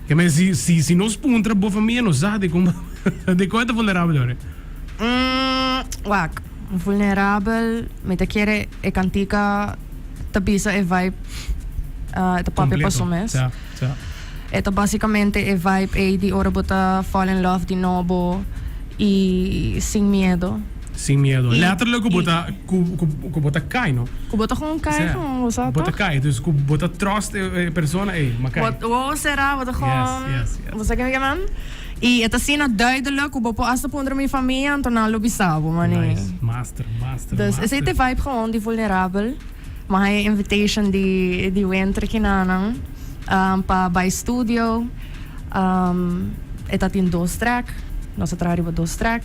Ke men si si si nos puntra bo famia nos sa de kuma de kon e ta vulnerabel ora. Mm, wak. Vulnerabel, mi ta kere e kantika ta bisa e vibe ah, e ta papia Completo. paso mes. Sa, sa. E ta basikamente e vibe ei di ora bo ta fall in love di nobo i sin miedo. Sin miedo. Letterlijk ku bo ta ku ku bo ta kai no. Ku bo ta kon kai kon bo sa toch? Bo ta kai dus ku bo ta trust e persona ey ma kai. Bo bo sera bo ta kon. Yes yes yes. Bo sa kende kinan? I e ta asina duidelijk ku bo por hasta puntra mi famia anto nan lo bisa bo mane. Nice. Master master master. Dus esei ta e vibe gewoon di vulnerabel. Mi a haña e invitation di di Winter kinanan pa bai studio e ta tin dos track nos a traha riba dos track.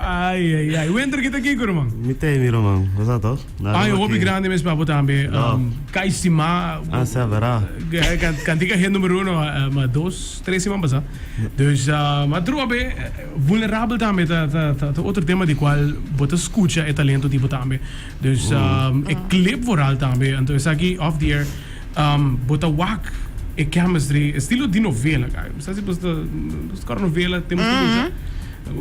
Ai ai ai. Wenter ki ta kiko ruman? Mi ta emi ruman, bo sa to? Na Ai, un hopi grandi mes pa bo tambe. No. Um, Kai Sima. Ah, sa vera. Eh, kan- Kantika he numero uno, eh, ma dos, tres siman pasa. Dus, ah, ma trua be, eh, vulnerabel tambe ta, ta, ta, ta otro tema di cual bo ta scucha e talento di bo tambe. Dus, um, e clip vooral tambe. Anto esaki, off the air, um, bo ta wak e chemistry, estilo di novela, kai. Mi sa si bo sta, bo sta cora novela, tema scucha.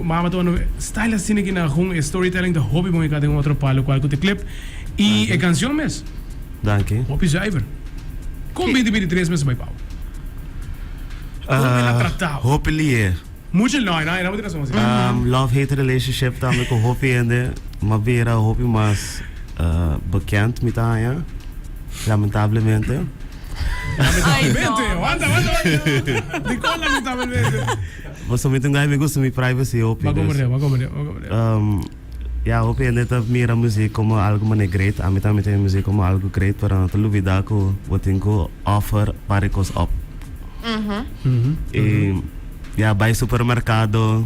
Mama ta unda style asina ki na hun e storytelling ta hopi bon e ka den otro palo kual ku te clip i e kansion mes. Danki. Hopi zuiver. Kon binti bini tres mes bai pau? Kon bo el a tratau? Hopi liee. Mucha loi na e na bo tin razon asina. Umm love hate relationship tambe ku hopi hende ma bira hopi mas bekend mi ta haña lamentablemente. Lamentablemente. Wanta wanta wanta. Dikon lamentablemente? Bo sa mi tin guy mi gusta mi privacy hopi dus. Ya hopi hende ta mira muziek komo algu mane great ami ta mira muziek komo algu great pero no ta lubida ku bo tin ku offer parie kos op. I ya bai supermerkado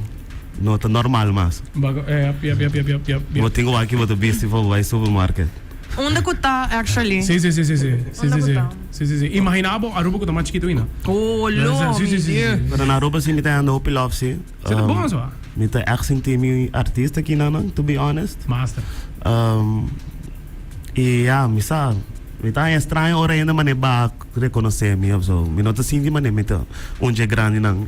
no ta normal mas. Bo tin ku wak bo ta bisti for bo bai supermarket. Unda ku ta actually? Unda ku ta? Si si si imaginá bo Aruba ku ta mas chikitu aina. Oh lo mi diu. Pero na Aruba si mi ta hende hopi love si. Si ta bon so. Mi ta èk sinti mi un artista aki nan nan to be honest. Master. I ya mi sa mi ta haña estraño ora hende mané baha rekonosé mi of so. Mi no ta sinti mané mi ta un dje grandi nan.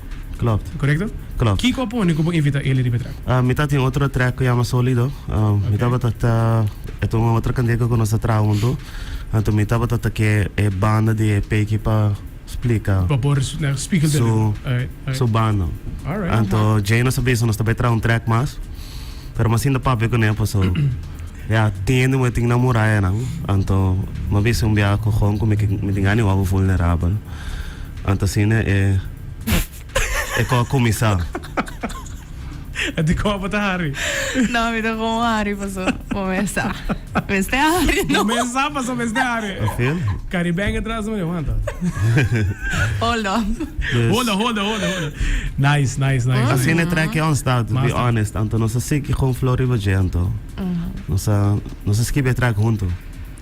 Klopt. Korekto? Klopt. Kiko a pone ku bo invita Eli riba e trèk? Ah, mi ta tin otro trèk ku yama Solido. Mi tabata ta, e ta un otro kandeka ku nos ta traha huntu. Anto mi tabata ta ke e banda di EP ki pa splika. Pa por spikal den riba. Alraight, alraight. Su banda. Alraight. Anto Jay nos a bisa nos ta bai traha un trèk mas, pero mi asinta papia kuné, paso. Ya tende moe tin nan murayanan, anto mi bisa un biaha ku Gon ku mi kin mi tin gana e wawru vulnerabel. Anto asina e e kos a kuminsá. E dikor bo ta hari? No, mi ta kon hari paso bo mester hari. Bo mester hari, paso mester hari. Afil. Caribbean atrás mane wanta. Hold up. Dus. Hold up, hold up, hold up, hold up. Nice, nice, nice. Asina e trek yon stad, to be honest. Anto nos a siki kon flow riba dje anto. Nos a nos a skibi e trek huntu.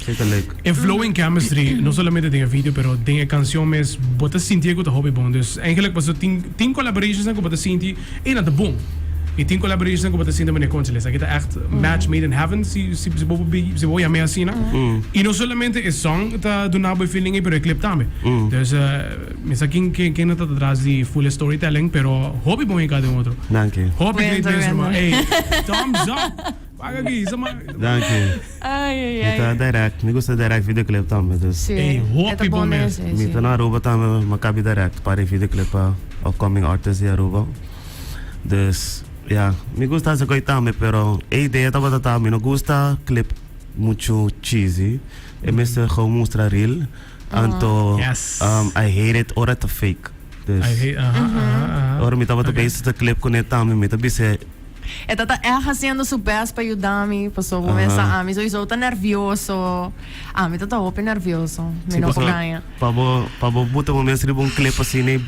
Kei ta leuk. En flow en chemistry, no solamente den e video, pero den e canción mes, bo ta sintié cu ta hopi bon. Dus, eigenlijk paso tin, tin collaborations nan cu bo ta sinti E nan ta bon. Mi tin collaborationnan cu bo ta sinti, Meneer Conchel, esaki ta echt match made in heaven, si si bo si bo yam'e asina. Y no solamente e song ta duna bo e feeling ey, pero e clip tambe. Dus, mi sa kin ken ken a ta atras di full e storytelling, pero hopi bon e cada un otro. Danki. Hopi great mens, Cuenta, cuenta. ruman. Ey, thumbs up! Paga ki sa man. Danki. Ai ai ai. Mi ta direct, mi gusta direct videoclip tambe dus. Si, Ey, hopi e ta bon bon mes. mester, Mi si. ta na Aruba tambe, mi a kabi direct para e videoclip pa upcoming artist di Aruba. Dus, ya, mi gusta esaki hoy tambe, pero e idea tabata ta mi no gusta clip muchu cheesy, e mester gou mustra real. Anto I hate it ora ta fake. Dus ora mi tabata bezig ta clip cune tambe mi ta bis'e. E ta ta echt haciendo su best pa yuda mi paso bo mesa ami sowiso ta nervioso. Ami ta ta hopi nervioso. Mi no por gaña. Pa bo buta bo mes riba un clip asina.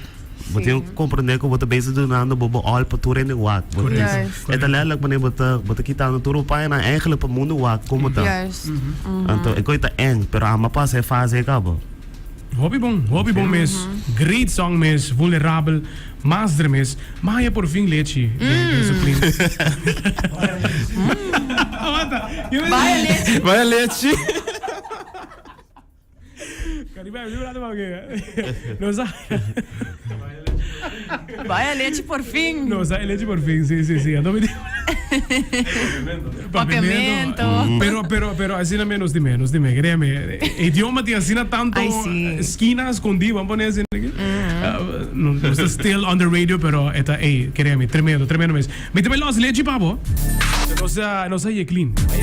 Bo tin ku komprendé ku bo ta bese dunando bo bo all pa tur hende wak. Bo tin e ta letterlik manera bo ta bo ta kitando tur bo paña nan eigenlijk pa mundu wak komo ta. Anto e kos ta èn pero amo a pasa e fase ei kaba. Hopi bon, hopi bon mes. Great song mes, vulnerabel, mas dre mes. M'a haña por fin lechi den su plins. Baya lechi. Caribe, mi prata pa ke. Nos a. Baya lechi por fin. Nos a lechi por fin, si, si, si. Anto mi di. Papiamento. Pero, pero, pero, asina me nos di me, nos di me. Crea me, idioma ti asina tanto Ay, sí. esquina escondido, vamos poner asina. Uh, no, no está still on the radio, pero está, ey, crea me, tremendo, tremendo mes. Mi te me los lechi, pabo. Nos a, nos a ye clean.